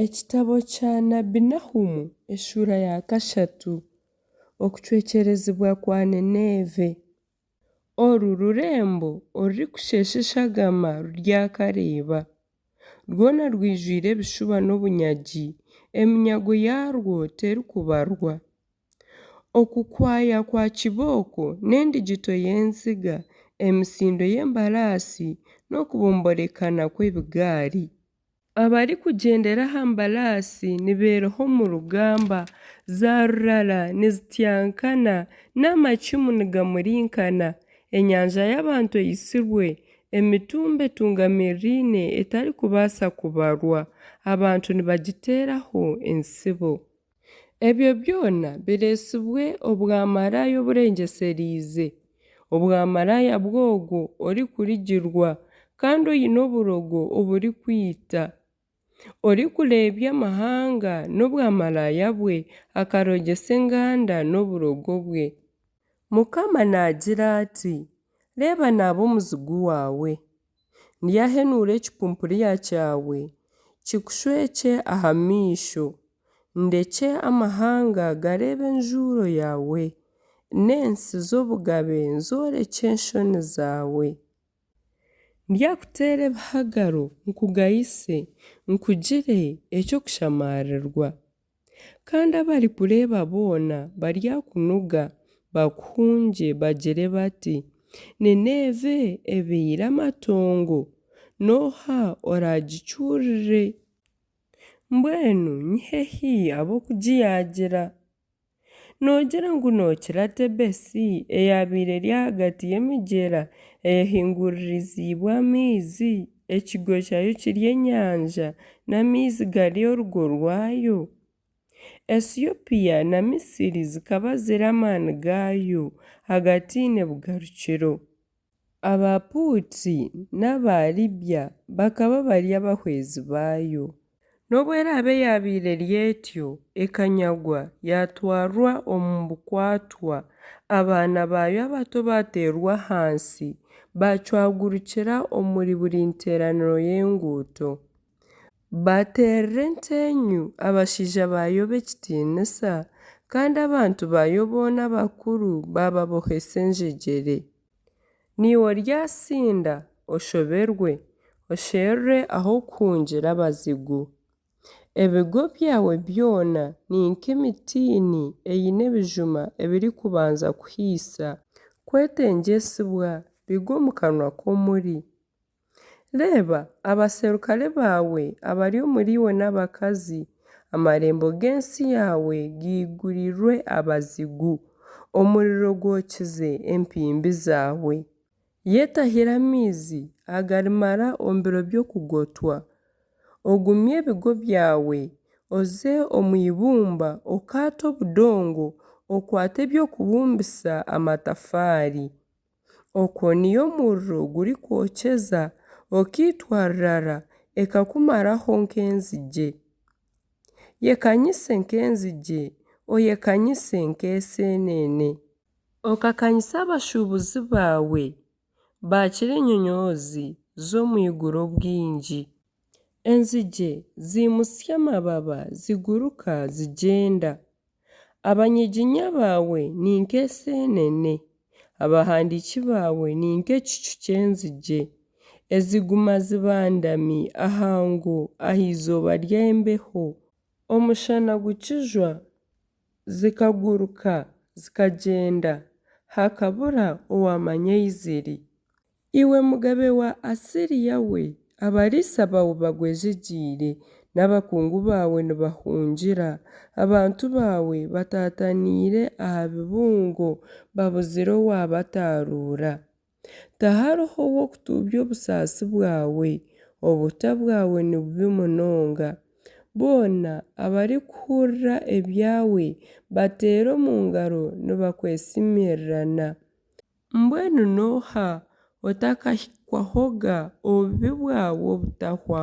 Ekitabo kya Nabbi Nahumu, eshuura ya kashatu. Okucwekyerezibwa kwa Nineeve. Oru rurembo orurikushesha eshagama ruryakareeba, rwona rwijwire ebishuba n'obunyagi, eminyago yaarwo terikubarwa. Okukwaya kwa kibooko n'endigito y'enziga, emisindo y'embaraasi n'okubomborekana kw'ebigaari. Abarikugyendera aha mbaraasi nibeeroha omu rugamba, zaarurara nizityankana, n'amacumu nigamurinkana. Enyanja y'abantu eitsirwe, emitumba etungamiriraine etarikubaasa kubarwa, abantu nibagiteeraho entsibo. Ebyo byona bireetsibwe obwamaraaya oburengyesereize, obwamaraaya bw'ogwo orikurigirwa kandi oine oburogo oburikwita, orikureebya amahanga n'obwamaraaya bwe, akarogyesa enganda n'oburogo bwe. Mukama naagira ati, Reeba naaba omuzigu waawe. Ndyahenuura ekipumpuriya kyawe, kikushwekye aha maisho, ndekye amahanga gareebe enjuuro yaawe, n'ensi z'obugabe zoorekye enshoni zaawe. Ndyakuteera ebihagaro nkugayise, nkugire eky'okushamaarirwa. Kandi abarikureeba boona baryakunuga, bakuhungye, bagire bati, Nineeve ebeire amatongo, n'oha oraagicuurire? Mbwenu ni hehi ab'okugiyaagira? Noogira ngu nookira Tebesi, eyaabaire eri ahagati y'emigyera eyahinguririziibwe amaizi, ekigo kyayo kiri enyanja, n'amaizi gari orugo rwayo? Esiopia na Misiri zikaba ziri amaani gaayo, hagati nibugarukiro. Abaapuutsi n'Abaaliibya bakaba bari abahwezi baayo. N'obu eraabe yaabaire eri etyo, ekanyagwa, yaatwarwa omu bukwatwa, abaana baayo abato baateerwa ahansi, baacwagurukira omuri buri nteeraniro y'enguuto. Baateerera enteenyu abashaija ba Yobu ekitiinisa, kandi abantu ba Yobu boona abakuru baababohesa enjegyere. Niiwe oryasinda oshoberwe, osherure ah'okuhungira abazigu. Ebigo byawe byona ni nk'emitiini eine ebijuma ebirikubanza kuhaisa, kwetengyesibwa bigwe omu kanwa k'omuri. Reeba, abaserukare baawe abari omuriiwe n'abakazi, amarembo g'ensi yaawe gaigurirwe abazigu, omuriro gwokize empimbi zaawe. Yetahire amaizi agarimara omu biro by'okugotwa, ogumye ebigo byawe, oze omu ibumba okaate obudongo, okwate eby'okubumbisa amatafaari. Okwo niyo muriro gurikwokyeza okaitwa rurara ekakumaraho nk'enzigye. Yekanyise nk'enzigye, oyekanyise nk'eseenene. Okakanyise abashuubuzi baawe, baakira enyonyoozi z'omu iguru obwingi. Enzigye ziimutsya amababa ziguruka zigyenda, Abanyiginya baawe ni nk'eseenene, abahandiiki baawe ni nk'ekicu ky'enzigye, eziguma zibandami aha ngo aha izooba ry'embeho. Omushana gukijwa, zikaguruka zikagyenda, hakabura owaamanya ei ziri. Iwe mugabe wa Asiria we, abariisa baawe bagwejegyeire, n'abakungu baawe nibahungira. Abantu baawe bataataniire aha bibungo, babuzire owaabataaruura. Tihariho ow'okutuubya obusaasi bwawe, obuta bwawe ni bubi munonga. Boona abarikuhurira ebyawe bateera omu ngaro nibakwesimirirana. Mbwenu n'oha otakahikwahoga obubi bwawe obutahwa?